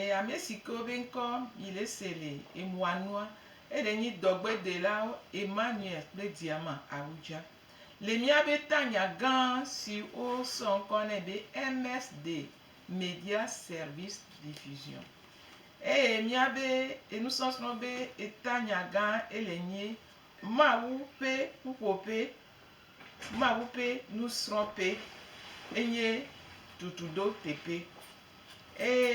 E ame si ke wobe ŋkɔ yi le se le emua nua, eɖe nyi dɔgbedelawo Emmanuel kple Diama Awudja. Le míabe tanya gã si wosɔ ŋkɔ nɛ be MS de Media Service Diffusion eye míabe enusɔsrɔ̃ be etanya gã ele nye Mawu ƒe ƒuƒoƒe Mawu ƒe nusrɔ̃ƒe enye ɖoɖoɖoteƒe, eye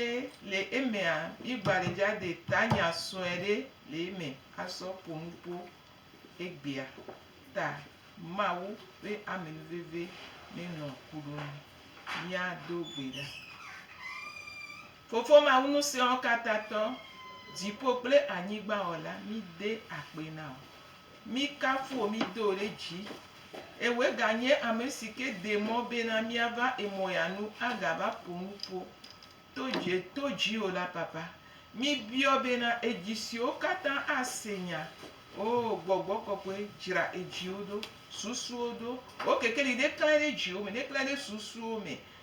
le emea, mígbalidzadɛ tanya sue ɖe le eme asɔ ƒo nu ƒo egbea ta. Mawu ƒe amenuveve nenɔ ku ɖo nu. Míado gbe ɖa. Fofo Mawu Ŋusẽwɔkatãtɔ, dziƒo kple anyigba wɔla, míde akpe na wò. Míkafu wò, mído wò ɖe dzi. Eye wòe ganye ame si ke de mɔ bena míava emɔ ya nu agava ƒo nuƒo to dzi to dziwò la, Papa. Míbiɔ bena edzi siwo katã ase nya, oo, Gbɔgbɔ Kɔkɔe, dzra edziwo ɖo, susuwo ɖo. Wò kekeli neklãe ɖe dziwo me, neklãe ɖe susuwo me.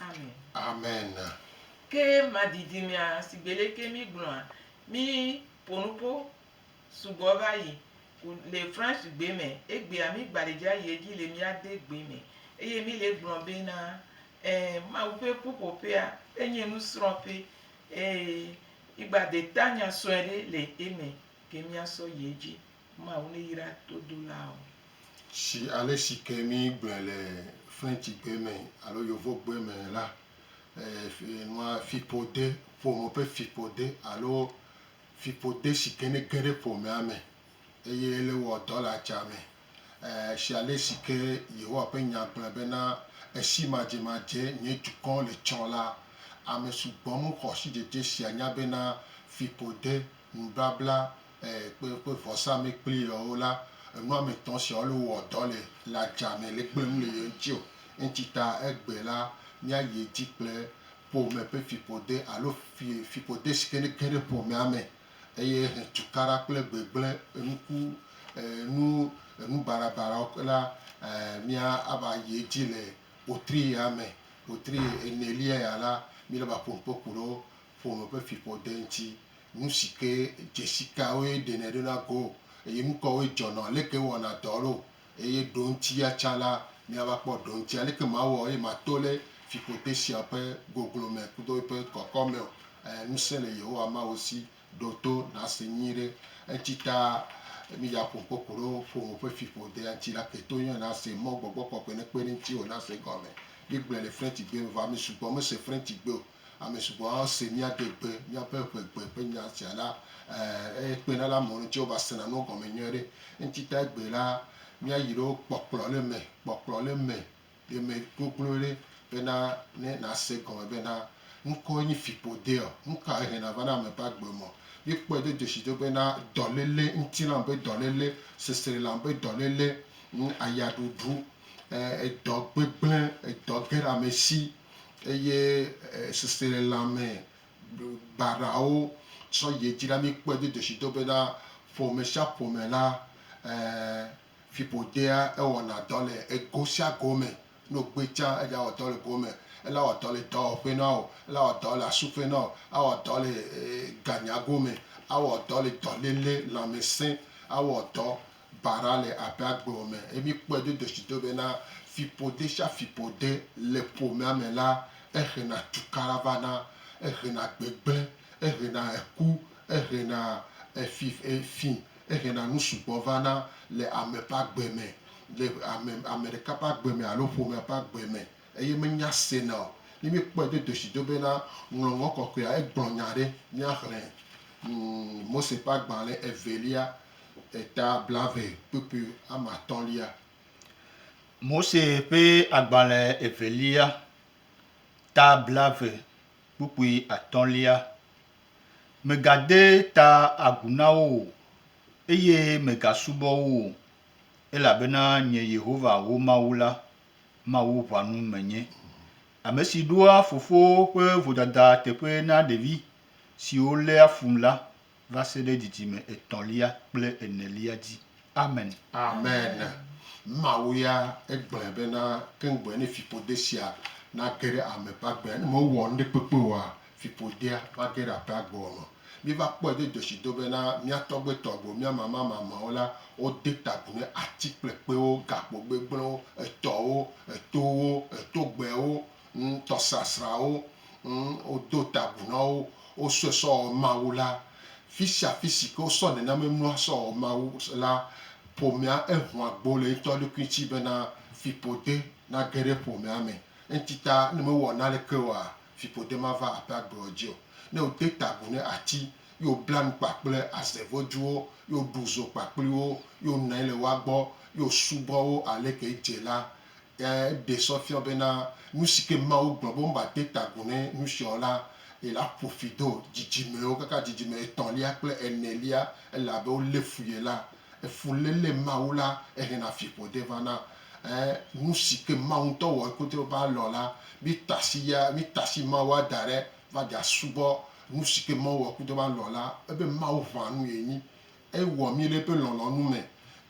Amen. Amen. Ke ma didi mea sigbe leke mi gblɔa mi ponupo sugbɔ va yi ku le France gbe me egbea mi gba le dza yi edzi le mia de gbe me eye mi le gblɔ be na e mawu ƒe ƒuƒoƒea enye nu srɔ ƒe eye mi gba de ta nya sɔe ɖe le eme ke mia sɔ yi edzi. Mawu neyra todolawo. Si ale si ke mi gblɔe le Frenchigbe me alo Yovogbe me la, e, nua fiƒode, ƒome ƒe fiƒode alo fiƒode si ke ne ge ɖe ƒomea me eye ele wɔ dɔ le atsa me. E, si ale si ke Yehowa ƒe Nya gblɔe bena, Esi madzemadze nye dukɔ le tsɔ la, ame sugbɔ mexɔ sidzedze sia nya bena fiƒode, nubabla, kple woƒe vɔsamlekpui lɔwo la, enu ame etɔ̃ siawo le wowɔ dɔ le le adzea me le kpem le ye ŋuti o. Eŋuti ta egbe la, míayi edzi kple ƒome ƒe fiƒode alo fi fiƒode si ke ne ge ɖe ƒomea me eye he tukaɖa kple gbegblẽ enuku enu enubarabarawo la e mía ava yi edzi le wotri ya me. Wotri enelia ya la, míele be aƒo nuƒo ku ɖe ƒome ƒe fiƒode ŋuti. Nu si ke dzesi kawoe ɖenɛ ɖo na go, eye nu kawoe dzɔnɔ? Aleke ewɔna dɔ ɖo? Eye ɖoŋti ya tsã la, míava kpɔ ɖoŋti. Aleke mawɔ eye mato ɖe fiƒode sia ƒe goglo me kudo eƒe kɔkɔ me o? Ẽ, ŋusẽ le Yehowa Mawu si. Ɖo to nàse nyuiɖe. Eŋti ta migaƒo ŋkɔ ku ɖo ƒome ƒe fiƒodea ŋti la, ke to yɔe nàse mɔ gbɔgbɔ kɔkɔe nekpe ɖe ŋtiwò nàse egɔme. Míegblɔe le Frentigbe me, vɔ ame sugbɔ mese Frentigbe o. Ame sugbɔ ase míaɖe gbe míaƒe ƒe gbe ƒe nya sia la, ɛɛ, ekpena ɖe amewo ŋuti wova sena nuwo gɔme nyuie ɖe. Eŋutita egbe la, míayi ɖe wo kpɔkplɔ ɖe me, kpɔkplɔ ɖe me, ɖe me gogloe ɖe bena ne nàse gɔme bena ŋkɔe nyi fiƒodeɔ, nu kae hena va na ame ƒe agbe me. Míekpɔe do dzesi do bena dɔléle, ŋutilã ƒe dɔléle, seselã ƒe dɔléle, ŋ, ayaɖuɖu, ɛɛ, edɔ gbegblẽ, edɔ ge ɖe ame si, eye seselelãme baɖawo sɔ yi edzi la, míkpɔe do dzesido bena ƒomesiaƒome la, fiƒodea ewɔna dɔ le ego sia go me. Ne wògbɔe tsã, eɖe awɔ dɔ le go me. Ele awɔ dɔ le dɔwɔƒe na wò, ele awɔ dɔ le asuƒe na wò, awɔ dɔ le ganyago me, awɔ dɔ le dɔléle, lãmesẽ, awɔ dɔ Bara le aƒea gblɔ me eye míkpɔe do ɖeshido be na fiƒode sia fiƒode le ƒomea me la, ehena tukaɖa vana, ehena gbegblẽ, ehena eku, ehena efi efi, ehena nu sugbɔ vana le ame ƒe agbe me, le ame ame ɖeka ƒe agbe me alo ƒomea ƒe agbe me eye menya sena o. Ne míkpɔe do ɖeshido be na Ŋɔŋlɔ Kɔkɔea, egblɔ nya aɖe, míaxlẽ Mose ƒe agbalẽ evelia eta blaeve kpukpui ame atɔ̃lia. Mose ƒe agbalẽ evelia, ta blaeve kpukpui atɔ̃lia. Mègade ta agu na wo o, eye mègasubɔ wo o, elabena nye Yehowa wò Mawu la, Mawu ʋãnu menye, ame si ɖoa fofo ƒe vodada teƒe na ɖevi siwo léa fum la. va se ɖe dzidzime etɔ̃lia kple enelia dzi. Amen. Amen. Mawu ya egblɔe bena keŋgbɔe ne fiƒode sia nage ɖe ame ƒe agbea, ne mewɔ nuɖekpekpe oa, fiƒodea mage ɖe aƒea gbe o me. Míva kpɔe do dzɔsido bena mía tɔgbuitɔgbuiwo, mía mamamamawo la, wode ta agu ne ati kple kpewo, gakpo gbegblẽwo, etɔwo, etowo, etogbewo, Ŋ tɔ srasra wo, ŋ o do ta agu na wo, wo sɔe sɔ ɔ Mawu la. Fisia fisi ke wo sɔ nenamɛ nua sɔ ɔ Mawu la, ƒomea e hun agbo le eŋtɔ ɖokui ŋtsi bena fiƒode na ge ɖe ƒomea mɛ. Eŋtsi ta, ne me wɔ naneke oa, fiƒode ma va aƒe agble ɔ dzi o. Ne o de ta agu ne atsi, yi o bla nu kpakple aze vojuwo, yi o ɖu zo kpakpli wo, yi o nɔanyi le woa gbɔ, yi o subɔ wo aleke edze la, Eɖe sɔ fiɔ bena nusike Mawu gblɔ be womba de ta agu ne nusia o la, ela ƒo fi do dzidzimewo kaka dzidzime etɔ̃lia kple enelia, ele abe wolé fu ye la. Efuléle Mawu la ehena fiƒode vana. Ẽ, nusike Mawu ŋutɔ wɔ kodro be alɔ̃ la, mítasi ya, mítasi Mawua da ɖe va dza subɔ nusike Mawu wɔ kodro be alɔ̃ la, ebe Mawu ʋã nu yenyi. Ewɔ mí le eƒe lɔlɔ̃nu me.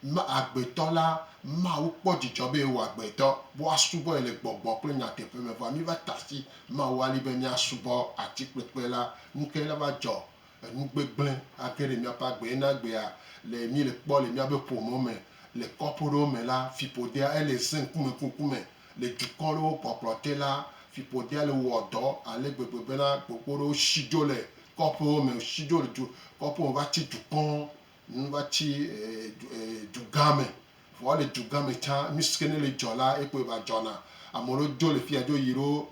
Ma agbetɔ la, Mawu kpɔ dzidzɔ be ewɔ agbetɔ be woasubɔ ye le gbɔgbɔ kple nyateƒe me. Vɔa míva ta asi Mawu alĩ be míasubɔ atikpekpe la. Nukae la va dzɔ? Enu gbegblẽ age ɖe míaƒe agbee. Na egbea le míele kpɔ le míaƒe ƒome me, le kɔƒe ɖewo me la, fiƒodea ele ze ŋkumeŋkume. Le dukɔ ɖewo kpɔkplɔ te la, fiƒodea le wɔ dɔ ale gbegbe bena gbogbo ɖewo shi dzo le kɔƒewo me, woshi dzo le du kɔƒewo me va tsi dukɔ nu va tsi dugã me. Vɔ le dugã me tsã, nu si ke ne le dzɔ la, ekpɔe va dzɔna. Ame ɖewo dzo le fiya dzo yi ɖo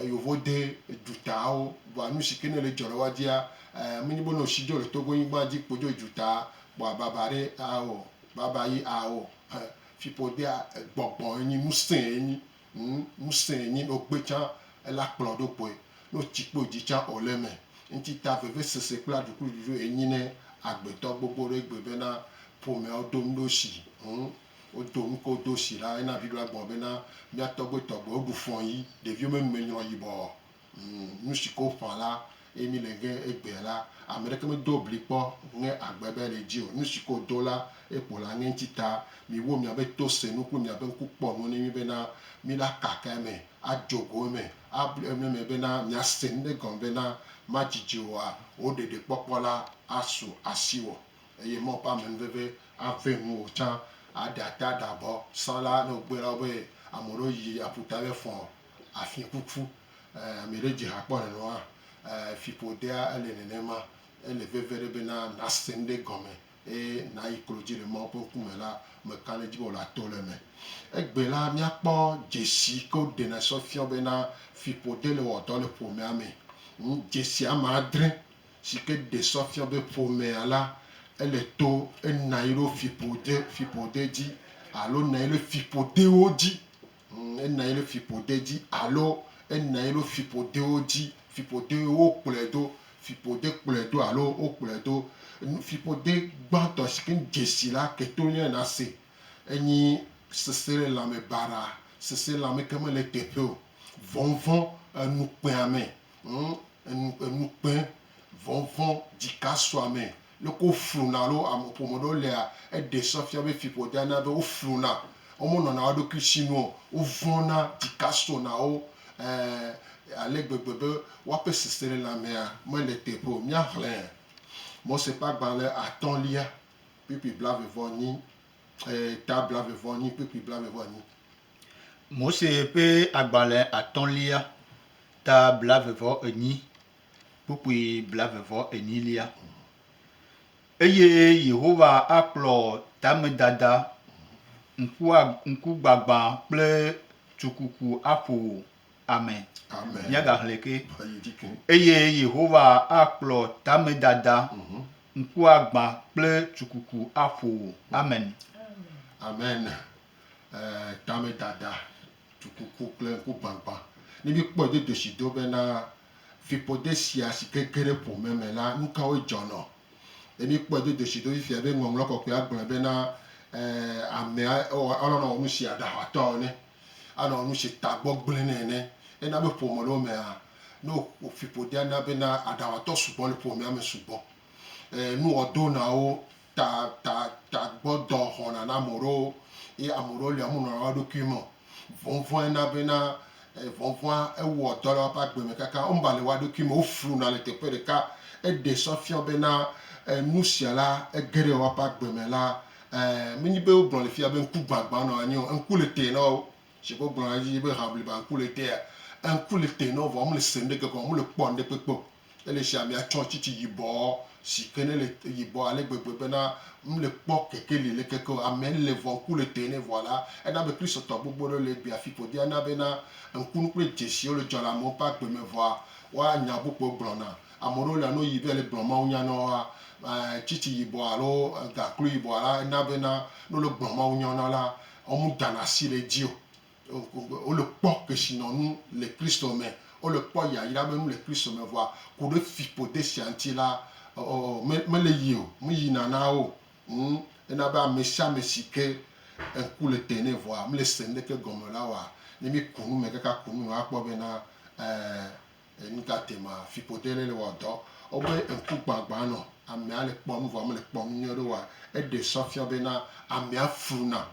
yovode dutawo. Vɔa nu si ke ne le dzɔ le woa dzia, menye be ne woshi dzo le Togo nyigban dzi kpo dzo yi dutaa kpoa baba ɖe ao, baba ye ao. Fiƒodea gbɔgbɔ enyi ŋusẽ enyi ŋ ŋusẽ enyi no gbe tsã ela kplɔ ɖo kpɔe no tsi kpɔ dzi tsã o le eme ŋtsi ta vevesese kple aɖukluɖuɖu enyi ne agbetɔ gbogbo ɖe gbe bena ƒomea odo ŋɖo si ŋ odo ŋko do si la ena viɖo agbɔn bena mia tɔgbe tɔgbe oɖu fɔn yi ɖeviwo me nume nyrɔ yibɔ Nushik'o ƒã la, eye mi le ŋe egbea la, ameɖeke me do bli kpɔ ŋe agbe be le dzi o. Nushik'o do la, ekpo la ŋe ŋti ta. Mi wo miabe to se nu kple miabe ŋku kpɔ nuwo ne mi be na mi la kaka eme, a djo go eme, a blu eme me be na mia se nuɖe gɔme be na ma djidje oa, wo ɖeɖe kpɔkpɔ la a su asiwɔ. Eye Mawu ƒe amenuveve a ve nuwo tsã, a ɖe ata ɖe abɔ. Sã la, ne wo gbe la wo be ameɖewo yi aƒuta be fɔ̃ afikuku ame ɖe dze ha kpɔ nenema fiƒodea ele nenema ele veve ɖe bena nase nuɖe gɔme eye nayi klodzi le Mawu ƒe ŋkume la meka ɖe edzi be wòle ato le eme. Egbe la míakpɔ dzesi ke woɖena sɔ fiɔ bena fiƒo dele wɔdɔ le ƒomea me. Dzesi ame adre sike ɖe sɔ fiɔ be ƒomea la ele to enayi ɖo fiƒode fiƒode dzi alo nayi ɖe fiƒodewo dzi. Ena ye ɖe fiƒode dzi alo ena ye ɖo fiƒodewo dzi. Fiƒode wokplɔe do, fiƒode kplɔe do alo wokplɔe do. Nu fiƒode gbãtɔ si ke dze si la ke to nye nase enyi seselelãme baɖa, seselelãme ke mele eteƒe o, vɔnvɔn, enukpeame, Ŋ, enu, enukpe, vɔnvɔn, dzikasuame, leke wofluna alo ame ƒome ɖewo lea, eɖe sɔ fia be fiƒodea na be wofluna, womenɔna wo ɖokui si nu o, wovɔ̃na, dzika sɔna wo, ẽ, ale gbegbe be woaƒe seselelãmea mele teƒe o. Míaxlẽ Mose ƒe agbalẽ atɔ̃lia, kpukpui blaeve-vɔ-enyi, ẽ, ta blaeve-vɔ-enyi, kpukpui blaeve-vɔ-enyi. Mose ƒe agbalẽ atɔ̃lia, ta blave-vɔ-enyi, kpukpui blave-vɔ-enyilia. Eye Yehowa akplɔ tamedada, ŋkua, ŋkugbagbã kple tsukuku aƒo wò, ame. Amen. Míagaxlẽ ke. Eyi dzi ke. Eye Yehowa akplɔ tamedada, ŋkuagbã kple tsukuku aƒo wò. Amen. Amen. tamedada, dukuku kple ŋkugbagbã. Ne míekpɔe do ɖosi do bena fiƒode sia si ke ge ɖe ƒome me la, nu kawoe dzɔnɔ? Ne míekpɔe do ɖosi do fifia be Ŋɔŋlɔ Kɔkɔea gblɔe bena, Amea ewɔ, alɔ̃ nawɔ nu si aɖaxatɔ ene, anɔ nu si tagbɔ gblẽ nɛ ene. Ena be ƒome ɖewo mea, ne fiƒodea na bena aɖaxatɔ sugbɔ le ƒomea me sugbɔ. Nuwɔdonãwo ta ta tagbɔdɔ xɔna na ame ɖewo ye ame ɖewo lia wome nɔna wo ɖokui me o. Vɔvɔ̃e na bena e vɔvɔ̃a ewɔ dɔ le woaƒe agbe me kaka wome va le woa ɖokui me o. Wofluna le teƒe ɖeka. Eɖe sɔ fiɔ bena enu sia la ege ɖe woaƒe agbe me la e menye be wogblɔ le fia be ŋkugbãgbã nɔ anyi o. Ŋku le te na wo. Shigbe wogblɔna edzi be ha bliba ŋku le tea, ŋku le te na wo vɔ womele se nuɖe ke gɔme o, womele kpɔ nuɖe kpekpe o. Ele shia mia tsɔ tsitsi yibɔ si ke ne le yibɔ ale gbegbe bena mle kpɔ keke li le keke o. Ame le vɔ ŋku le tɔe nɛ vɔa la, ena be Kristotɔ gbogbo ɖewo le egbea fi ƒodia na bena ŋkunu kple dzesiwo le dzɔ le amewo ƒe agbe me vɔa woa nya gbogbowo gblɔ na. Ame ɖewo lia no yi be le gblɔ Mawu nya na woa, eh, tsitsi yibɔ alo ganklu yibɔ la ena bena ne wole gblɔ Mawu nya na wo la, wo mu dana si ɖe edzi o. wole kpɔ kesinɔnu le Kristo me, wole kpɔ yayra be nu le Kristo me, vɔa ku ɖe fiƒode sia ŋuti la, ɔɔ, mele yi o, meyina na wo o. Ŋ, ena be amesiame si ke ŋku le te nɛ vɔa mele se nuɖeke gɔme o la wɔa, ne míku nu me kaka ku nu me akpɔ be na, ɛɛ, nu ka te ma, fiƒode ɖe le wɔ dɔ. Wobe ŋkugbãgbã nɔ amea le kpɔ nu vɔa mele kpɔ nu nyuiɖe o wɔa, eɖe sɔ fiɔ be na amea fluna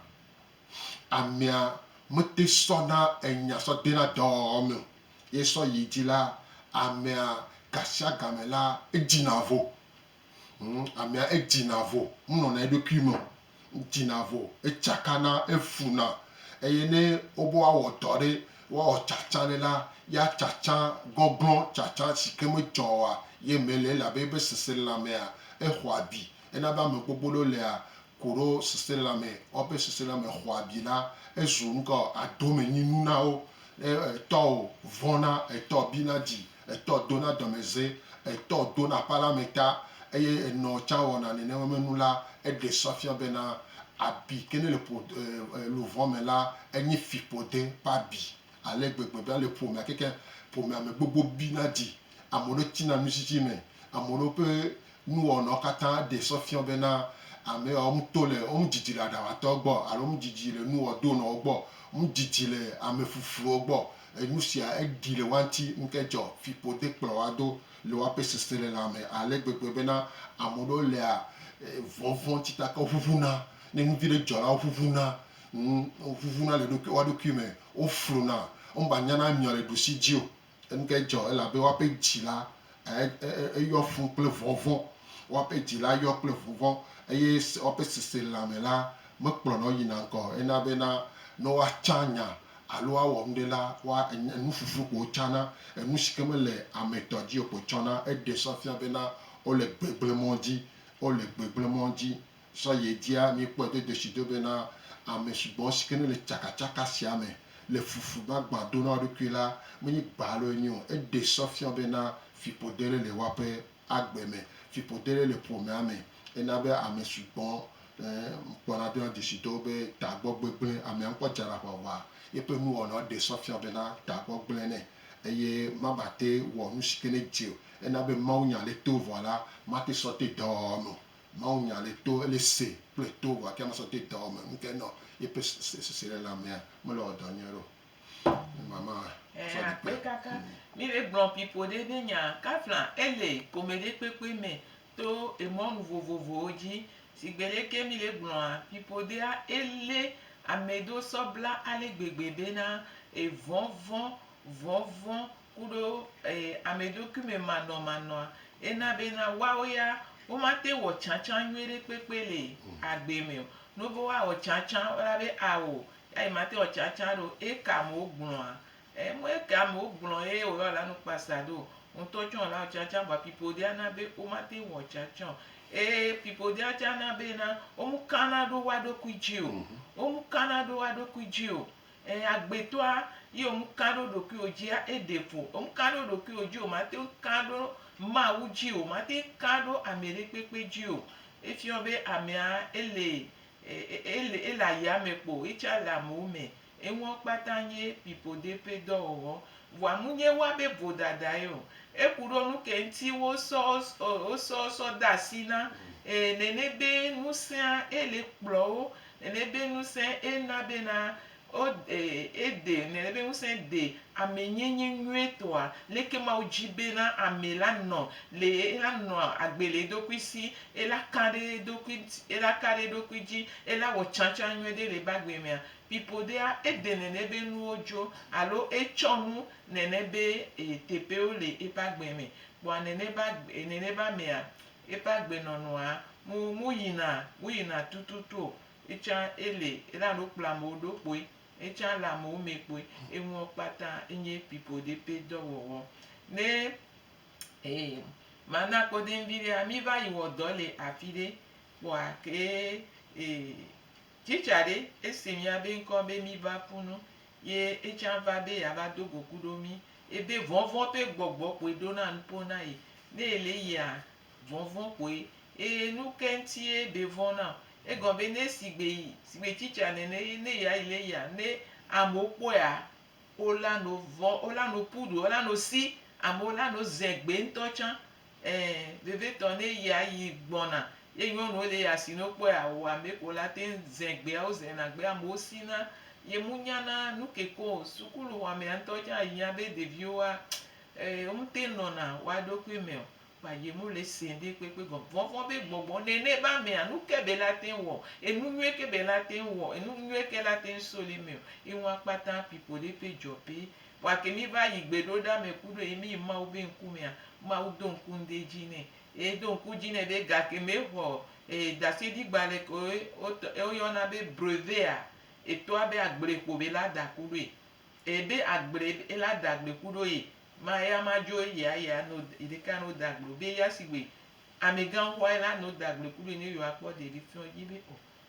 Amea mete sɔna enya sɔ dena dɔɔ me o, ye sɔ yi dzi la, amea gasiagame la, edzina vo. Hm, amea edzina vo, menɔna eɖokui me o. Edzina vo, etsakana, efuna. Eye ne wobe woawɔ dɔ ɖe, woawɔ tsatsa ɖe la, ya tsatsa gɔglɔ̃, tsatsa si ke medzɔ oa, ye me le, elabe ebe seselelãmea, exɔ abi. Ena be ame gbogbo ɖewo lea, ku ɖo seselãme, woaƒe seselãme xɔ abi la, ezu nuka o? Adomenyinu na wo. Ne etɔ o, vɔ̃na, etɔ bina dzi, etɔ dona dɔmedze, etɔ dona aƒe la me ta, eye enɔ tsã wɔna nenema nu la, eɖe sɔ fia bena abi ke ne le ƒo luʋɔ me la, enye fiƒode ƒe abi ale gbegbe bena le ƒomea kekeŋ, ƒomea me gbogbo bina dzi, ame ɖewo tina nutsitsi me, ame ɖewo ƒe Nuwɔnawo katã ɖe sɔ fiɔ bena ame yawo ŋu to le wo ŋu didi le aɖawatɔwo gbɔ alo wo ŋu didi le nuwɔdonɔwo gbɔ, wo ŋu didi le ame fufuwo gbɔ. Enu sia eɖi le woa ŋuti ŋke dzɔ fiƒo de kplɔ woa do le woaƒe seselelã me ale gbegbe bena ame ɖewo lea vɔvɔ̃ ŋuti ta ke wo ʋuʋuna. Ne nu viɖe dzɔ la, wo ʋuʋuna, ŋ, wo ʋuʋuna le ɖokui, woa ɖokui me, wo fluna, wo me va nyana nyɔ le ɖusi dzi o. Eŋge dzɔ elabe woaƒe dzi la yɔ fũ kple vɔvɔ̃, woaƒe dzi la yɔ kple vɔvɔ̃, eye woaƒe seselãme la mekplɔna wo yina ŋgɔ o. Ena be na ne woatsã nya alo woawɔ nuɖe la, woa, enu ƒuƒlu ko wotsana. Enu si ke mele ame tɔ dzi o koe tsɔna. Eɖe sɔ fia bena wole gbegblẽmɔ̃ dzi, wole gbegblẽmɔ̃ dzi. Zã ye dia míkpɔe do dzesi do bena ame sugbɔ si ke ne le tsakatsaka sia me le fufu gbagbã do na wo ɖokui la menye gba aloe nyo o. Eɖe sɔ fia bena fiƒode ɖe le woaƒe agbe me, fiƒode ɖe le ƒomea me. Ena be ame sugbɔ ẽ kpɔna dona dzesi do be tagbɔ gbegblẽ amea ŋkɔ dzana ʋaʋa. Yeƒe nuwɔnawo ɖe sɔ fia bena tagbɔ gblẽ nɛ eye mabate wɔ nu si ke ne dze o. Ena be mawunya le to vɔ la mate sɔ te dɔwɔwɔ me o. Mawu nya le to ele se kple to vɔ ake masɔ te dɔwɔ me ŋke nɔ yepe sese ɖe la mea me le wɔ dɔ nyuie ɖo ne mama afɔ ɖe kpe. Kaka mi le gblɔ pipo ɖe be nya kafla ele pome ɖe kpekpe me to emɔnu vovovowo dzi sigbe ɖe ke mi le gblɔa pipo ɖea ele ame ɖo sɔ bla ale gbegbe be na evɔvɔ vɔvɔ ku ɖo eye ameɖokuimemanɔmanɔa ena bena woawo ya womate ŋu wɔ tsãtsã nyuiɖe kpekpe le agbee me o. Ne wobe woawɔ tsãtsã woana be ao ya yemate ŋu awɔ tsãtsã aɖe o eye eke amewo gblɔa? Em me eke amewo gblɔ eye wòyɔ la nu kpasa aɖe o. Wò ŋutɔ tsɛ wòle awɔ tsãtsã vɔa fiƒode ana be womate ŋu awɔ tsãtsã o eye fiƒodea tsɛ ana bena womekana ɖo woa ɖokui dzi o. Womekana ɖo woa ɖokui dzi o Ɛɛ, agbetɔa, ye ŋu kã ɖo ɖokuiwò dzia, eɖe vo. Ŋu kã ɖo ɖokuiwò dzi o, màte ŋu kã ɖo Mawu dzi o, màte ŋu kã ɖo ameɖekpekpe dzi o. Efiɔ be amea ele, ele, ele ayame kpo, yetsã le amewo me. Enuwo kpata nye pipoɖe ƒe dɔwɔwɔ. Vɔa munye woa be vodadae o. Eku ɖo nu ke ŋuti wosɔ, wosɔ, sɔ de asi na, ɛɛ, nene be nusẽa, ele kplɔwo Nenebe ŋusẽ e na bena o e e de nenebe ŋusẽ de ame nye nye nyuie tɔa leke Mawu dzi bena ame la nɔ le e la nɔ agbe le eɖokui si e la ka ɖe eɖokui ŋti e la ka ɖe eɖokui dzi e la wɔ tsãtsã nyuie ɖe le ebe agbe mea? Pipoɖea e de nenebe nuwo dzo alo e tsɔ nu nenebe e teƒewo le ebe agbe me kpɔa neneba neneba mea Eƒe agbenɔnɔa mu muyina muyina tututu o. Etsã ele ela ɖo kplɔ amewo ɖo kpoe. Etsã ele amewo mɛ kpoe. Enuɔ kpata enye pipoɖe ƒe dɔwɔwɔ. Ne ee ma na kpɔɖeŋ viɖea mi va yi wɔ dɔ le afiɖe kpoa ke ee Tsitsa ɖe, esi míabe ŋkɔ be míva ƒu nu, ye etsã va be yeava do go ku ɖo mí, ebe vɔvɔ̃ ƒe gbɔgbɔ koe ɖona nuƒo na ye. Ne èle eyea, vɔvɔ̃ koe. Eye nu kae ŋutie be vɔ̃ na o? Egɔme be ne sigbe yi, sigbe tsitsa nene eye ne yeayi le eyea, ne amewo kpɔea, wolano vɔ̃, wolano ƒu ɖo, wolano si, amewo lano ze gbe ŋutɔ tsã. Ẽ, vevitɔ ne yia yi gbɔna ye nyɔnuwo le eya si ne wokpɔ ye awɔ ame ko la te ŋu ze gbea wozena gbe amewo si na ye mu nya na nu ke ko o. Sukulu xɔa mea ŋutɔ tsã yia be ɖeviwo wa e womu te nɔna woa ɖokui me o kpa ye mu le se ŋɖe kpekpe gɔme. Vɔvɔ̃ be gbɔgbɔ nene be amea nu ke be la te ŋu wɔ enu nyuie ke be la te ŋu wɔ enu nyuie ke la te ŋu soli me o ye ŋua kpata pipo ɖe ƒe dzɔ be Gake mí va yi gbe ɖoɖa me ku ɖo yi mí yi Mawu be ŋku mea, Mawu do ŋku ŋde dzi nɛ. Eye do ŋku dzi nɛ be gake me xɔ ee dasédi gbalɛ ke wo wotɔ e wo yɔna be brevet a, etɔa be agble kpo be la da ku ɖoe. Eye be agble be la da gbe ku ɖo ye ma eya ma dzo ye a ye a no yi ɖe ka no da gble o. Be eya sigbe amegã xɔa ye la no da gble ku ɖoe ne yo a kpɔ de ɖe fiɔ dzi be o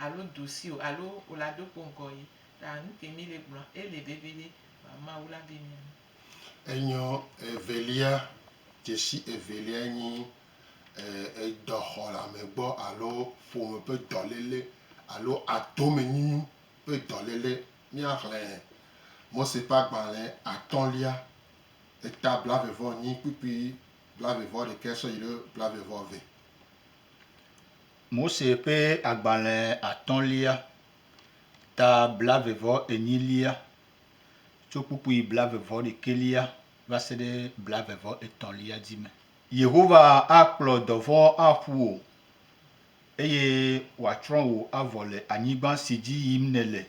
Alo dosi o, alo ola do kpo ŋkɔ yi. Ta nuke mi le gblɔa ele veviɖe vɔ Mawu la be mia nu. Enyɔ evelia, dzesi evelia nyi edɔ xɔlame gbɔ alo ƒome ƒe dɔlele alo atome nyinyu ƒe dɔlele. Mia xlẽ Mose ƒe agbalẽ atɔlia, eta blave vɔ nyi kpukpui blave vɔ ɖekɛ sɔ yi ɖe blave vɔ ve. Mose ƒe agbalẽ atɔ̃lia, ta blave-vɔ-enyilia, tso kpukpui blave-vɔ-ɖekɛlia va se ɖe blave-vɔ-etɔ̃lia dzi me. Yehowa akplɔ dɔvɔ̃ aƒu wò, eye wòatsrɔ̃ wò avɔ le anyigba si dzi yim nèle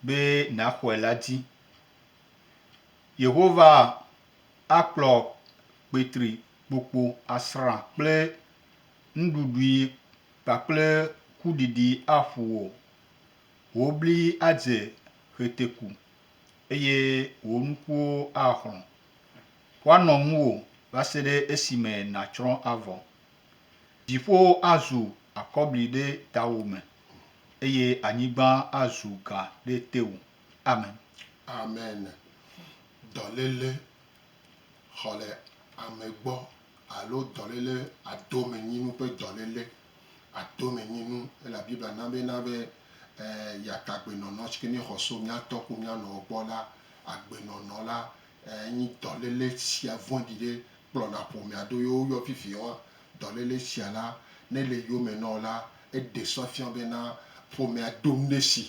be nàxɔe la dzi. Yehowa akplɔ kpetri kpokpo asrã kple Nuɖuɖui kpakple kuɖiɖi aƒu wò, wò bli adze ɣeteku, eye wò nukuwo axlɔ̃. Woanɔ ŋuwò va se ɖe esime nàtsrɔ̃ avɔ. Dziƒowo azu akɔbli ɖe tawò me, eye anyigba azu ga ɖe tewò. Amen. Amen. Dɔléle xɔ le ame gbɔ alo dɔléle adomenyinu ƒe dɔléle adomenyinu ela Biblia na be na be yatagbenɔnɔ si ke ne xɔ so mía tɔ ku mía nɔwo gbɔ la agbenɔnɔ la enyi dɔléle sia vɔɖi ɖe kplɔna ƒomea do yewo yɔ vivie wa dɔléle sia la ne le yome na wo la eɖe sɔ fia be na ƒomea do nuɖe si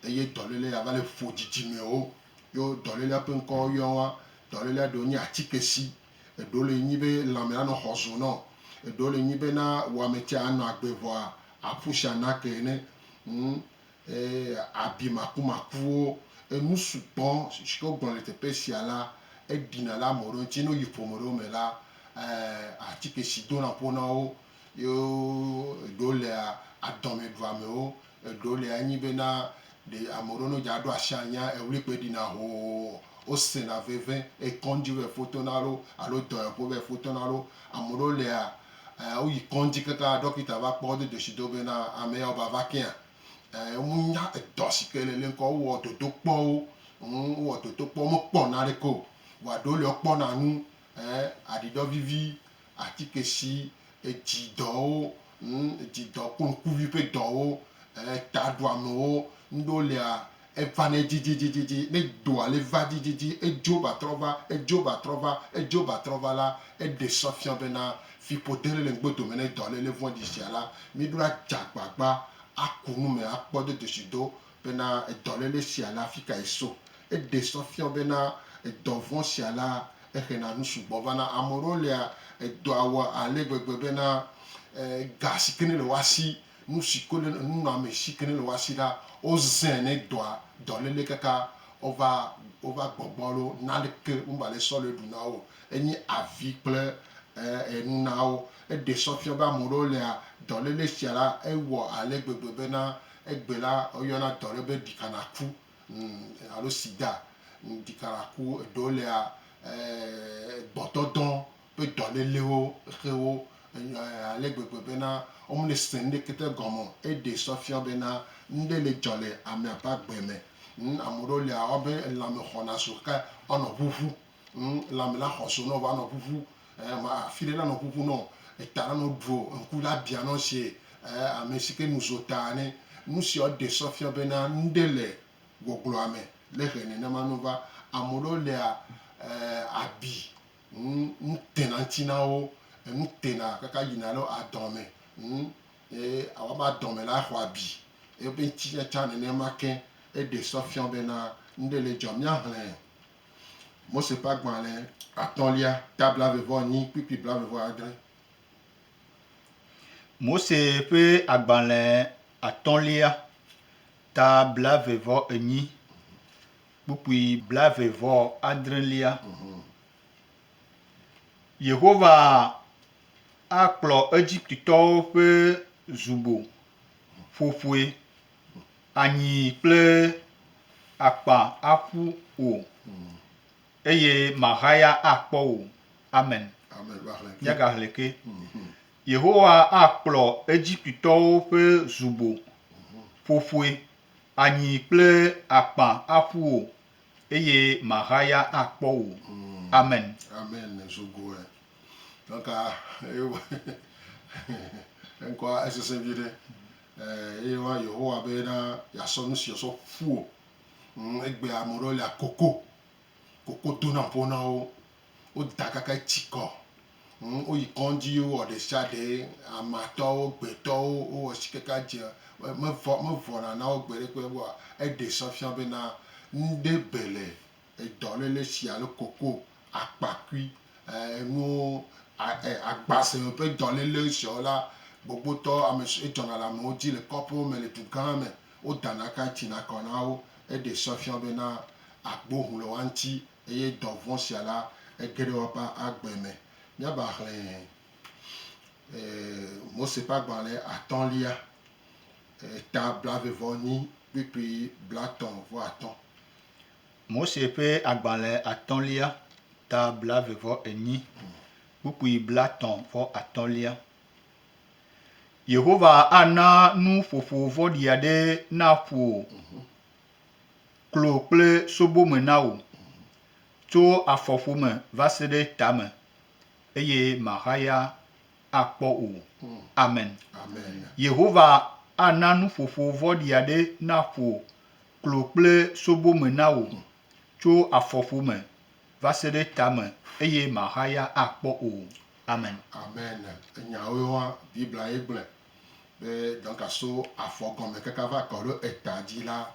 eye dɔléle ya va le ƒo dzidzimewo yo dɔlélea ƒe ŋkɔ yɔn wa. Dɔlélea ɖewo nyi atike si eɖewo le nyi be lãme anɔ xɔ zo nɔn. Eɖewo le nyi be na wɔame tse anɔ agbe vɔa aƒu si ana ke ene. Ŋ e abi makumakuwo, enu sugbɔ shike wo gblɔ le teƒe sia la eɖi na le ame ɖewo ŋtsi. Ne wo yi ƒome ɖewo me la e atike si dona ƒo na wo yo eɖewo lea adɔme ɖu amewo. Eɖewo li anyi bena ɖe ame ɖewo ne dza ɖo asi anya eŋli kpoe ɖina hoo, wosena veve eye kɔŋdzi va yi ƒo to na wo alo dɔyɔƒe va yi ƒo to na wo. Ame ɖewo lia e woyi kɔŋdzi kaka ɖɔkita va kpɔ wo do dzesi do bena ame ya wova va kea e wonya edɔ si ke le le ŋkɔ wowɔ dodokpɔwo ŋ wowɔ dodokpɔwo womekpɔ naneke o. Vɔa ɖewo li wokpɔna nu Ẽ, aɖidɔ vivi, atike si edzi dɔwo, ŋ, edzi dɔ kple ŋkuvi ƒe dɔwo, ẽ, taɖoamewo, ŋɖewo lia, evana edzi dzidzidzidzi, ne dɔa le va dzidzidzi, edzo va trɔ va, edzo va trɔ va, edzo va trɔ va la, eɖe sɔ fia bena fiƒode ɖe le ŋgbe dome ne dɔlele vɔ̃ɖi sia la, míɖo adze agbagba aku nu me akpɔ dodosi do bena edɔlele sia le afi kae so. Eɖee sɔ fiɔ bena edɔ vɔ̃ sia la exena nu sugbɔ vana. Ame aɖewo lia edɔa wɔ ale gbegbe bena e ga si ke nele woa si, nu si ke le nunɔame si ke nele woa si la, wozãe ne dɔa dɔlele kaka wova wova gbɔgbɔ alo naneke meva le sɔ le ɖu na wo o. Enye avi kple e enu na wo. Eɖee sɔ fiɔ be ame aɖewo lia dɔlele sia la ewɔ ale gbegbe bena Egbe la, woyɔna dɔ ɖe be ɖikanaku alo sida. Ɖikanaku, eɖewo lea, gbɔdɔdɔ ƒe dɔlélewo xe wo ale gbegbe bena womese nuɖeke te gɔme o. Eɖee sɔ fiɔ bena nuɖe le dzɔ le amea ƒe agbe me. Ame ɖewo lea, woabe lãme xɔna zu xe woanɔ ʋuʋu ŋu lãme la xɔso nɔ va nɔ ƒuƒu ɛɛ ma afi ɖe la nɔ ƒuƒu nɔ eta la nɔ ɖuo ŋku la bia nɔ sie ɛɛ ame si ke nu zo taa nɛ. Nu siawo ɖe sɔ fia be na nuɖe le gbɔgblɔa me le ʋe nenema nɔ va. Ame ɖewo lea ɛɛ abi ŋu nu tena ŋti na wo enu tena kaka yina ɖe adɔn me ŋu ye awa be adɔn me la exɔ abi ebe ŋti tsatsa nenema ke eɖe sɔ fia be na nuɖe le dzɔ. Mia hlɛ. Mose ƒe agbalẽ atɔ̃lia, ta blaeve-vɔ-enyi kpukpui blaeve-vɔ-adre. Mose ƒe agbalẽ atɔ̃lia, ta blaeve-vɔ-enyi kpukpui blaeve-vɔ-adrelia. Yehowa akplɔ Egiptetɔwo ƒe zubo ƒo ƒoe. anyi kple akpa aƒu o, eye mahaya akpɔ o. Amen. Míagahlẽ ke. Yehowa akplɔ Egiptetɔwo ƒe zubo ƒoƒoe anyi kple akpa aƒu o, eye mahaya akpɔ o. Amen. Eye woayɔ Yehowa be na yeasɔ nu si wòsɔ ƒu wò. Egbea ame aɖewo lia koko. Koko dona ƒo na wo. Woda kaka etsi kɔ. Woyi kɔdzi wowɔ ɖe sia ɖe. Amatɔwo, gbetɔwo wowɔ si kaka edze. Mevɔna na wo gbeɖe kpe o. Eɖe sɔ fia be na nuɖe be le Edɔ nene si alo koko, akpakui, enuwo, agbase ƒe dɔ lele siawo la, gbogbotɔ ame si edzɔna le amewo dzi le kɔƒewo me le du gã me. Wodana ka ttina kɔ na wo. Eɖe se fiɔ be na agbo ŋu le woa ŋuti eye dɔ vɔ̃ sia la, ege ɖe woƒe agbe me. Míava xlẽ Mose ƒe agbalẽ atɔ̃lia, eta blaeve-vɔ-enyi kpukpui blatɔ̃-vɔ-atɔ̃. Mose ƒe agbalẽ atɔ̃lia, ta blaeve vɔ enyi, kpukpui blatɔ̃ vɔ atɔ̃lia. Yehowa ana nu ƒoƒo vɔ̃ɖi aɖe naƒo klo kple sobome na wò, tso afɔƒome va se ɖe tame, eye màhaya akpɔ o. Amen. Yehowa ana nu ƒoƒo vɔ̃ɖi aɖe naƒo klo kple sobo me na wò, tso afɔƒome va se ɖe tame, eye màxa ya akpɔ o. Amen. Amen. Enya woe wa, Biblia ye gblɔe be donka so afɔ gɔme kaka va kɔ ɖo eta dzi la,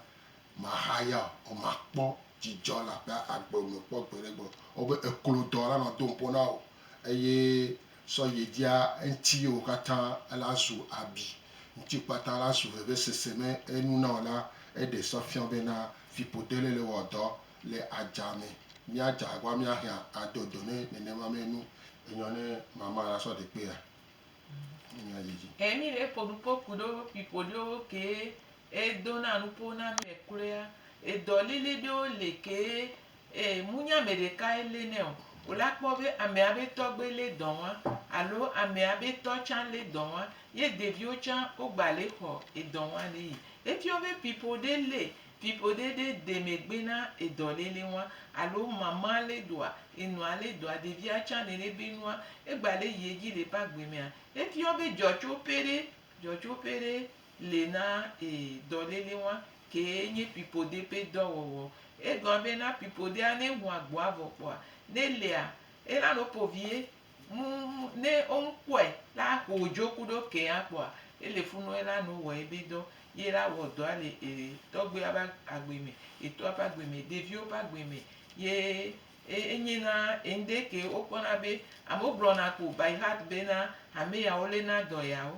màxa ya o, màkpɔ dzidzɔ le agbe me kpɔ gbeɖe gbe o. Ewɔ be eklodɔ la nɔ do ŋpo na wò eye. sɔ yi dzia eŋti ye wokatã la zu abi, ŋti kpata la su vevesese me enu na wo la, eɖe sɔ fiɔ be na fipo dele le wɔ dɔ le adza me. Mia dza agba mia hɛa ado do ne nenema me nu. Enyɔ ne mama la sɔ ɖe kpe ya ne mia yi dzi. Ɛ mi le fo nupo kuɖo fipo ɖewo ke e do na nupo na mi le kloea, edɔ lili ɖewo le ke Ee, munye ame ɖekae lée nɛ o. Wò la kpɔ be amea be tɔgbe lé dɔ ŋua alo amea be tɔ tsã lé dɔ ŋua ye ɖeviwo tsã wogba le xɔ edɔ ŋua le yi. Efiɔ be pipo ɖe lé pipo ɖe ɖe de megbe na edɔ lé lé ŋua alo mama lé dɔa, enɔa lé dɔa, ɖevia tsã nene be nua egba le yi edzi le eƒe agbe mea, efiɔ be dzɔtsoƒe ɖe dzɔtsoƒe ɖe le na ee dɔlele wa kee nye pipoɖe ƒe dɔ wɔwɔ. Egɔa be na pipoɖea ne ŋu agboa vɔ kpɔa, ne lea, ela no ƒo vie mu ne wo ŋu kpɔe la aƒo dzo kuɖo kea kpɔa, ele fu nɔ ela no wɔ ebe dɔ ye la wɔ dɔa le ee tɔgbuia ƒe agbe me, etɔa ƒe agbe me, ɖeviwo ƒe agbe me ye e enye na eŋɖe ke wo kpɔna be amewo gblɔna ko by heart be na hame yawo le na dɔ yawo.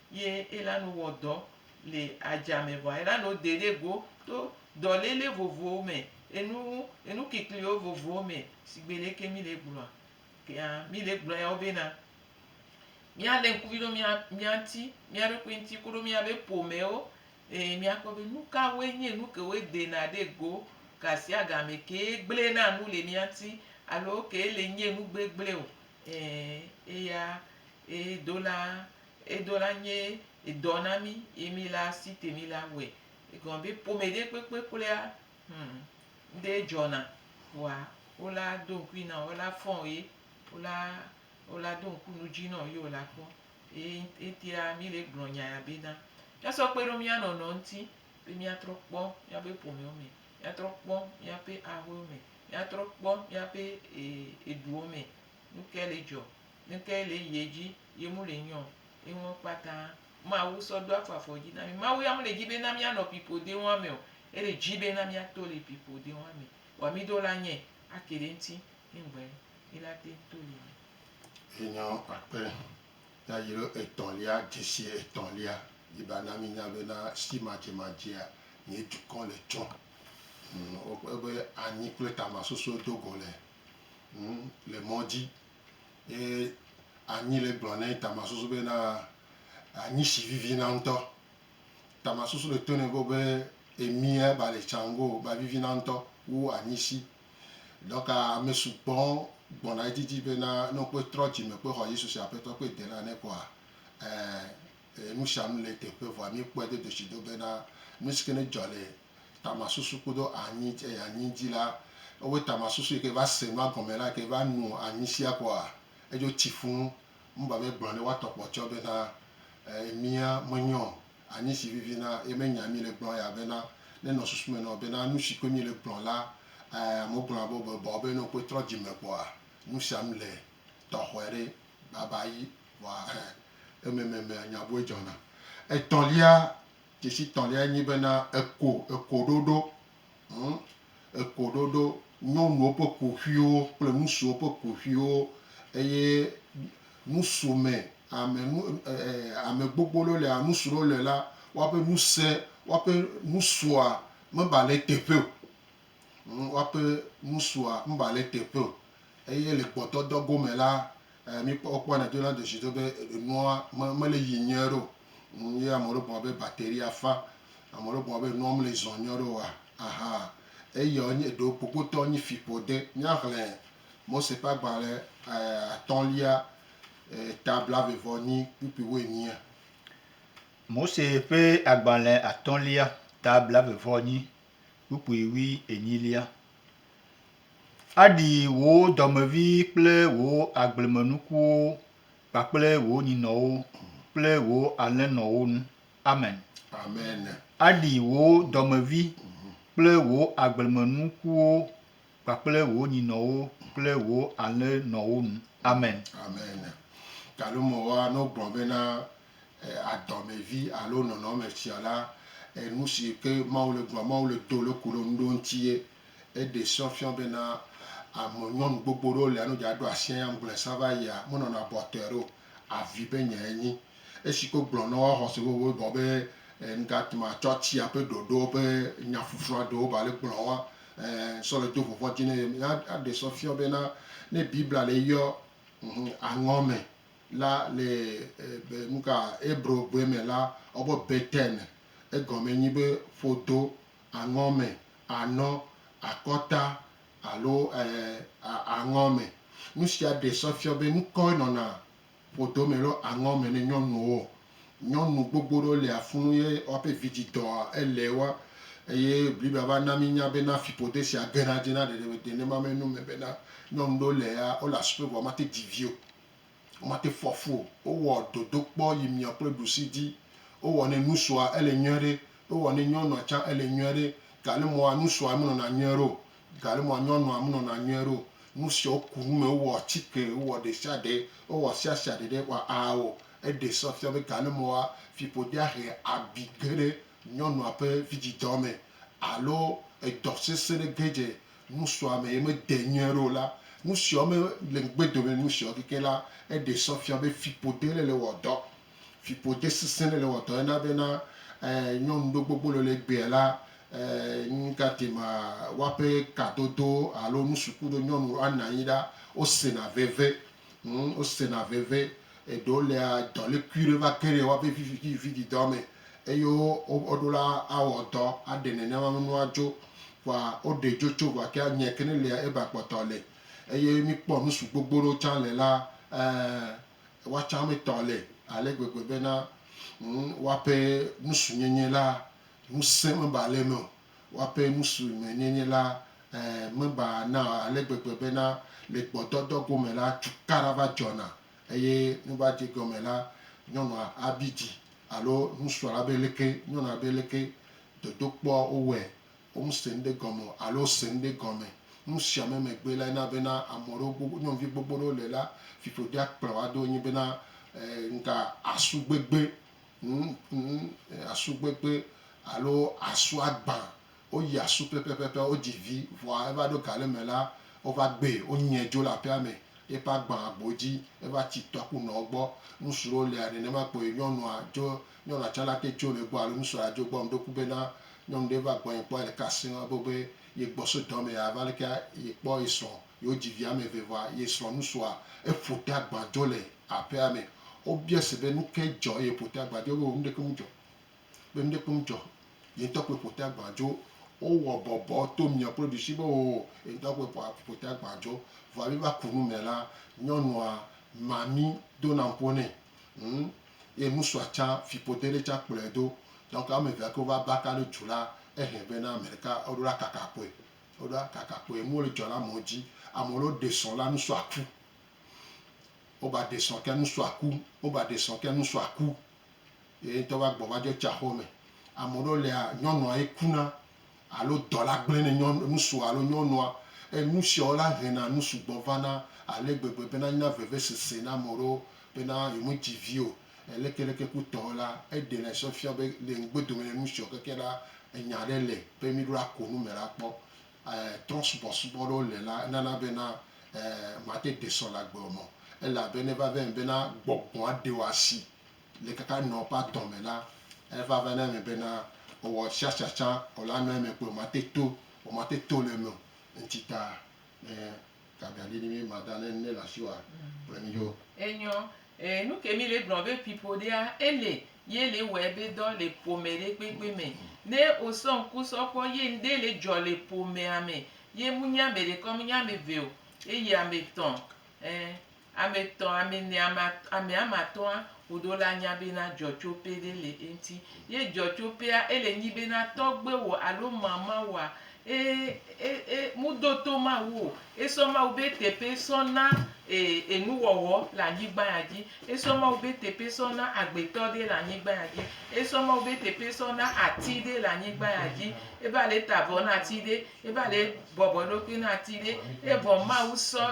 Ye elanu wɔ dɔ le adza me vɔa elanu de ɖe go to dɔlele vovowo me, enu enu kikliwo vovowo me sigbe leke mi le gblɔa kea mi le gblɔ yawo bena mia le ŋkuvi ɖo mia mia ŋti mia ɖokui ŋti koɖo mia be ƒomewo eye mia kpɔ be nukawoe nye nu kewoe dena ɖe go gasiagame kee gble na nu le mia ŋti alo kee le nye nu gbegble o e eya e dola. Edo la nye edɔ na mí ye mí le asi te mí la wɔe. Egɔme be ƒome ɖe kpekpe kloea, hum, ŋɖee dzɔna. Vɔa wo la do ŋkui na wò, wo la fɔn wò ye, wo la, wo la do ŋku nu dzi na wò ye wò la kpɔ. Eye ŋti la mí le gblɔ nya ya be na mía sɔ kpe ɖo mía nɔnɔ ŋuti be mía trɔ kpɔ mía be ƒomewo me, mía trɔ kpɔ mía ƒe aƒewo me, mía trɔ kpɔ mía ƒe e, eduwo me. Nuke le dzɔ Nukae le yiyɛ dzi ye mu le nyɔ eŋɔ kpata Mawu sɔ do afɔ afɔ dzi na mi? Mawu ya mu le dzi be na mia nɔ pipoɖe ŋua me o, ele dzi be na mia to le pipoɖe ŋua me. Wa mi do la nyɛ ake ɖe ŋti ye ŋgbe mi la teŋ to le me. Enyɔ akpe yayilo etɔn lia dzesi etɔn lia yi ba na mi nya be na si madze madzea mi dukɔn le tsɔ ŋ ebe anyi kple tama soso dogo le ŋ le mɔ dzi. Ye anyi le gblɔ ne Tamar susu be na anyi shi vivi na ŋutɔ. Tamar susu le to ne go be emia ba le tsango ba vivi na ŋutɔ wu anyi shi. Dɔka ame sugbɔ gbɔna edidi be na ne wokpe trɔ dzime kpe xɔ Yesu si Aƒetɔ kpe Dela ne koa, ɛɛ, nushanu le teƒe vɔa mi kpɔe dodoshi do be na nusi ke ne dzɔ le tamasusu kudo anyi eye anyi dzi la ewe tamasusu yi ke va se nua gɔme la yi ke va nu anyi sia kɔa edzo tsi funu mu ba be gblɔ ne woatɔ kpɔ tsɔ be na emia me nyɔ o anyi si vivi na ye me nya mi le gblɔ ya be na ne nɔ susu me nɔ be na nu si koe mi le gblɔ la eh amewo gblɔ na be be bɔ be ne wo koe trɔ dzi me kpɔa nu sia nu le tɔxɔe ɖe baba yi vɔa eh ememe me nya bue dzɔna etɔlia. Tsitsitɔ̃liae nyi bena eko, ekoɖoɖo, hm, ekoɖoɖo, nyɔnuwo ƒe kuxiwo kple nusuwo ƒe kuxiwo, eye nusume, ame nu, e, e, ame gbogbo ɖewo le, nusu ɖewo le la, woaƒe nuse, woaƒe nusua mebale eteƒe o. Woaƒe nu sua ŋba le teƒe o eye le gbɔdɔdɔ go me la, míkpɔ wokpɔnɛ do na dzesi do be enua me mele yi nyuie ɖe o. Ye ame ɖewo gblɔ be batteria fã, ame ɖewo gblɔ be enua mele zɔ nyuie ɖe o aha eya wonye eɖewo gbogbotɔ nyi fiƒode. Míaxlẽ Mose ƒe agbalẽ atɔ̃lia ta blaeve-vɔ-enyi kpukpui wuinyia. Mose ƒe agbalẽ atɔ̃lia ta blaeve-vɔ-enyi kpukpui wui enyilia. Aɖi wò dɔmevi kple wò agblemenukuwo kpakple wò nyinɔwo kple wò alẽnɔwo ŋu. Amen. Amen. Aɖi wò dɔmevi kple wò agblemenukuwo kpakple wò nyinɔwo kple wò alẽnɔwo ŋu. Amen. Amen. Galomewoa, ne wogblɔ bena adɔmevi alo nɔnɔmefia la, enu si ke Mawu le gblɔm, Mawu le do loku ɖe nu ɖewo ŋuti ye eɖe srɔ̃ fiɔ bena ame nyɔnu gbogbo ɖewo lia ne wodze aɖo asi anyi aŋgble sa va yia, menɔna abɔtɔe ɖo. Avi be nyae nyi esi ke wogblɔ na wo axɔ se be wogawɔ be ŋgate ŋu atsɔ tia ƒe ɖoɖowo ƒe nyaƒuƒlua ɖewo ba le gblɔ wa ẽ sɔ le do vɔvɔ̃ dzi na ye. Míaɖe srɔ̃ fiɔ bena ne Biblia le yɔ aŋɔ me, La le nuka Hebro gbe me la wɔ be Beten, egɔme nyi be ƒodo, aŋɔ me, anɔ, akɔta alo aŋɔ me. Nu sia ɖe sɔ fiɔ be nukɔe nɔna ƒodo me lo aŋɔ me ne nyɔnuwo. Nyɔnu gbogbo ɖewo le afunu ye woaƒe vidzi dɔ ele wo eye Biblia va na mi nya bena fiƒode sia gena dzi na ɖeɖe me. Nenema me nu me bena nyɔnu ɖewo le ya wole asime vɔ womate dzi vi o. Womate fɔ fu o. Wowɔ dodokpɔ yi miɔ kple ɖusi di. Wowɔ ne nusua ele nyuiɛ ɖe. Wowɔ ne nyɔnua tsa ele nyuiɛ ɖe. Gale mɔa nusua me nɔna nyuiɛ ɖe o. Gale mɔa nyɔnua me nɔna nyuiɛ ɖe o. Nusia woku nu me, wowɔ tsike, wowɔ ɖesiaɖe, wowɔ siasiaɖe ɖe wa ao. Eɖe se fia be gale mɔa fiƒodea he abi ge ɖe nyɔnua ƒe vidzidɔ me alo edɔ sese ɖe ge dze nusua me ye mede nyui aɖe o la, nusiawo me le ŋugbe dome nu siawo keke la, eɖe sɔ fia be fiƒode le le wɔ dɔ. Fiƒode sesẽ le le wɔ dɔ ena bena eh nyɔnu ɖe gbogbo le le gbea la eh nu ka te ma woaƒe kadodo alo nusuku ɖo nyɔnu ana anyi ɖa wo sena veve hm wo sena veve eɖewo lea dɔlekui ɖe va ge ɖe woaƒe vivi vivi didɔ me. Eye wo ɖola awɔ dɔ aɖe nenema nunua dzo, vɔa wo ɖe dzo tso vɔa kea nye kene lea eba kpɔtɔ le. Eye mi kpɔ nu su gbogbo ɖewo tsã le la, ɛ, woatsã mi tɔ le ale gbegbe be na, ŋ, woaƒe nu su nyenye la, ŋusẽ me ba le eme o. Woaƒe nu su me nyenye la, ɛ, me ba na ale gbegbe be na, le gbɔdɔdɔ gome la, cukaɖa va dzɔna Eye ne va dze egɔme la, nyɔnua abi dzi alo nusrɔ̃ la be leke nyɔnua be leke dodokpɔ wowɔe, womese nuɖe gɔme o alo wose nuɖe gɔme. Nu sia me megbe lae na bena ame aɖewo gbogbo, nyɔnuvi gbogbo aɖewo le la, fiƒodea kplɔ wo ado enyi bena e ŋga asu gbegbe, ŋ ŋ asu gbegbe alo asu agbã Woyi asu pɛpɛpɛpɛ, wodzi vi, vɔa eva ɖo ga ɖe me la, wova gbee, wonyae dzo le aƒea me, ye ƒe agbã agbo dzi, eva tsi tɔ ku nɔ egbɔ. Ŋusu ɖewo lia nenema kpɔe, nyɔnua dzo, nyɔnua tsa lake dzo le egbɔ alo ŋusu adzo egbɔ. Meɖo ŋku bena nyɔnu ɖe va gbɔnye kpɔ ele ka seŋ, ebo be ye gbɔ so dɔ me ya va leke ye kpɔ ye srɔ̃, yewo dzi vi ame eve vɔa ye srɔ̃ ŋusua eƒo te agbã dzo le aƒea me. Wobia se be nukae dzɔ eye eƒo te agbã dzo, ebe o nuɖeke mu dzɔ. be nuɖe kpem dzɔ, ye ŋutɔ koe ƒo ta gbã dzo. Wowɔ bɔbɔ to mìɔ kple ɖusi be oo, ye ŋutɔ koe ƒoa ƒo ta gbã dzo. Vɔa mí va ku nu me la, nyɔnua mami dona ŋpo nɛ. Ŋ, ye nusua tsã fiƒode ɖe tsã kplɔɛ do. Donc ame evea kewo va baka ɖe dzu la, ehiɛ be na ameɖeka eɖo la kaka kpoe. Eɖo la kaka kpoe. Nuwo le dzɔ le amewo dzi. Ame ɖewo ɖe srɔ̃ la nusua ku. Wo ba ɖe srɔ̃ kea nusua ku. Wo ba ɖe srɔ̃ kea nusua ku. Ye ŋutɔ va gbɔ va dzɔ tsa xɔ me. Ame ɖewo lia, nyɔnua ye kuna alo dɔla gblẽ ne nyɔnu, ŋutsua alo nyɔnua. Eye nu siawo la hena nu sugbɔ vana ale gbegbe bena anyina vevesese na ame ɖewo bena yemedzi vi o. Lekeleke kpotɔe la, eɖenɛ sɔ fia be le ŋugbe dome ne nu sia keke la, enya ɖe le be míɖo la ko nu me la kpɔ. E trɔsubɔsubɔ ɖewo le la, enana bena e mate ɖe sɔ le agbe o. Ele abe ne va va eme bena gbɔgbɔa ɖe wò asi Le kaka nɔ ƒe atɔ̃ me la, eva va na eme bena ewɔ tsiatsa tsã o la nɔ eme kpoe mate to o, mate to le eme o. Ŋti ta ne gaga li ni mi ma da ne ne le asi wa kple mi yo. Enyɔ, e nu ke mi le gblɔ be pipo ɖea, ele ye le wɔe be dɔ le ƒome ɖe kpekpe me. Ne o sɔ ŋku sɔ kpɔ ye ŋɖe le dzɔ le ƒomea me ye mu nye ameɖekɔ mu nye ameve o, eye ametɔ̃, e Ame etɔ̃, ame ene, ame atɔ̃, ame ame atɔ̃a, woɖo la nya bena dzɔtsoƒe ɖe le eŋti. Ye dzɔtsoƒea, ele nyi bena tɔgbewò alo mamawòa, e, e, e, mu do to Mawu o. E sɔ Mawu be teƒe sɔ na e, enuwɔwɔ le anyigba ya dzi. E sɔ Mawu be teƒe sɔ na agbetɔ ɖe le anyigba ya dzi. E sɔ Mawu be teƒe sɔ na ati ɖe le anyigba ya dzi. E va le ta vɔ na ati ɖe. Eva ɖe bɔbɔ eɖokui na ati ɖe, evɔ Mawu sɔ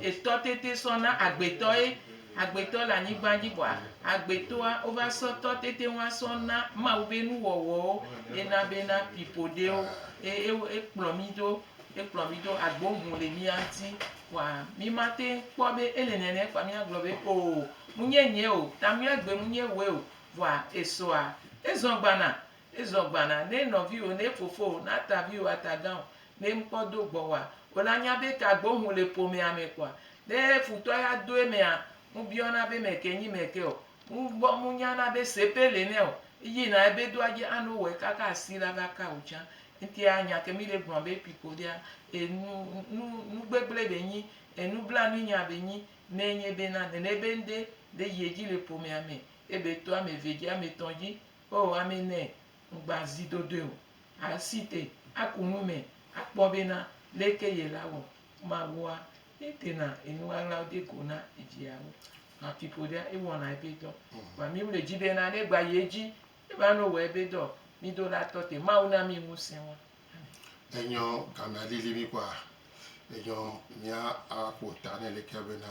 etɔ tete sɔ na agbetɔ ye. Agbetɔ le anyigba dzi vɔa, agbetɔa wova sɔ tɔ tete ŋua sɔ na Mawu be nuwɔwɔwo. Ena be na pipo ɖewo. Ekplɔ mi do, ekplɔ mi do agbo ŋu le mía ŋuti. Vɔa mi ma te kpɔ be ele nɛnɛ kpoa mía gblɔ be o mu nye nye o, ta mía gbe mu nye wòe o. Vɔa esɔa, ezɔ gbana. Ne zɔn gbana, ne nɔviwo, ne fofowo, ne ataviwo, atagãwo, ne ŋkpɔ do gbɔwòa, wole anya be ka gbe wohu le ƒomea me kpɔa. Ne futɔ ya do emea, ŋu biɔna be meke nyi meke o. Ŋu gbɔ ŋu nyana be sepe le nɛ o. Eyi na ebe do adje ano wɔ eka ka asi la va ka o tsã. Eŋtia anya ke mi le gblɔ be pipo ɖea, enu, nu, nu gbegble be nyi, enu blanui nya be nyi. Ne enye be na nene be ŋde le yie dzi le ƒomea me, ebe to ame ve dzi, ame tɔ̃ dzi, O ame nɛ ŋgba zi dodoe o, a si te aku nu me akpɔ bena leke yela wɔ Mawua ye dena enu ɣaɣlawo de go na eviawo. Nua fiƒoɖea ewɔna ebe dɔ. Vɔa mi wle dzi bena ne gba yi edzi eva no wɔ ebe dɔ, mi do la tɔ te. Mawu na mi ŋusẽ wa. Amen. Enyɔ gamea lili mi kpɔa? Enyɔ mia a ƒo ta nɛ leke bena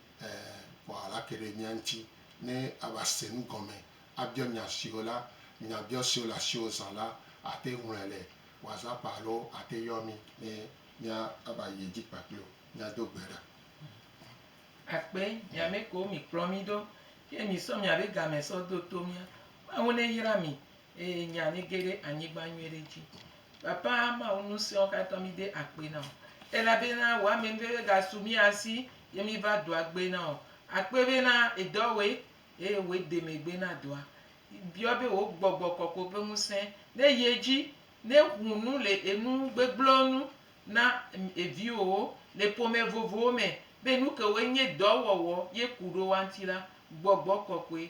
Ɛɛ, vɔ ala ke ɖe mía ŋuti ne ava se nu gɔme, abiɔ nya siwo la, nyabiɔ siwo le asiwò zã la, ate ŋlɔe le WhatsApp alo ate yɔ mí ne míava yi edzi kpakple wò míado gbe ɖa. Akpe, mi ame kewo mikplɔ mí ɖo, ye misɔ miabe game sɔ do to mía. Mawu neyra mi Eye nya mi ge ɖe anyigba nyuie ɖe dzi. Papa Mawu nusiawo katã mi de akpe na o. Elabena wò ame nuveve gasu mía si ye mi va dɔa gbe na o. Akpe bena èdɔ woe eye wò de megbe na dɔa. Biɔ be wò gbɔgbɔ kɔkɔe ƒe ŋusẽ ne yi edzi ne ŋu nu le enu gbegblẽwo nu na eviwòwo le ƒome vovowo me be nuke woe nye dɔ wɔwɔ ye ku ɖo woa ŋuti la, gbɔgbɔ kɔkɔe